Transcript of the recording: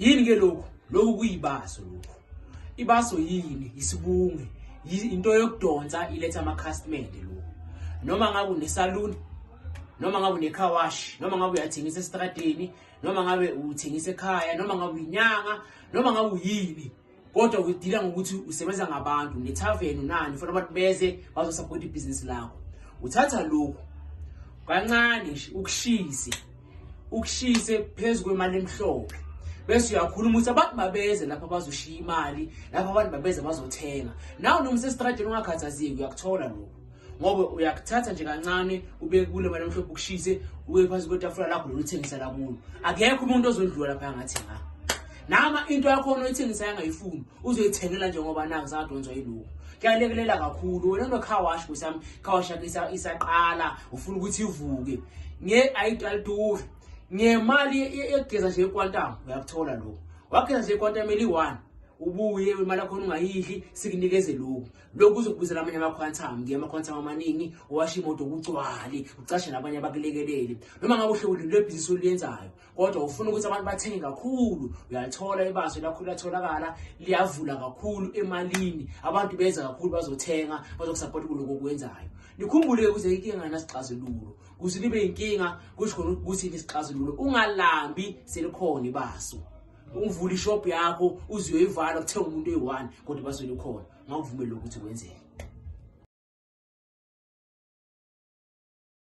yini ke lokhu lokhu kuyibaso lokhu ibaso yini isibunge into yokudonsa iletha amakhasimende lokhu noma ngabe unesaluni noma ngabe unecar wash noma ngabe uyathengisa esitradeni noma ngabe uthengisa ekhaya noma ngabe uyinyanga noma ngabe uyini kodwa udila ngokuthi usebenza ngabantu nethaveni unani ufuna abantu beze bazosapota ibhizinisi lakho uthatha lokhu kancane nje ukushise ukushise phezu kwemali emhlophe bese uyakhuluma ukuthi abantu babeze lapha bazoshiya imali lapha abantu babeze bazothenga nawe noma usestradini ungakhathazeki uyakuthola lokho ngoba uyakuthatha nje kancane ubeke kule mali emhlophe ukushise uye phansi kwetafula lakho loluthengisa lakulo akekho umuntu ozondlula lapha ngathi nga nama into yakho oyithengisa yangayifuni uzoyithengela nje ngoba naku zadonzwa yiloku kuyalekelela kakhulu wena no car wash kusam car wash yakhe isaqala ufuna ukuthi ivuke nge ayidaliduri ngemali yegeza nje ekwantamo uyakuthola lokho wageza nje ekwantamo eli-one ubuye imali yakhona ungayidli sikunikeze lokhu lokhu kuzokubizela amanye ama-quantum ngiye ama-quantum amaningi owasha imoto kugcwale ucashe nabanye abakulekeleli noma ngabe uhlewulini lwebhizinisi oluyenzayo kodwa ufuna ukuthi abantu bathenge kakhulu uyalithola ibaso lakho liyatholakala liyavula kakhulu emalini abantu benza kakhulu bazothenga bazokusapota kuloko okwenzayo nikhumbule-ke kuze inkinga nganasixazululo kuze libe yinkinga kusho khona ukuthi nisixazululo ungalambi selikhona ibaso ungivula ishop yakho uziyoyivala kuthenga umuntu eyi-one kodwa baswele khona ngakuvumele ukuthi kwenzeke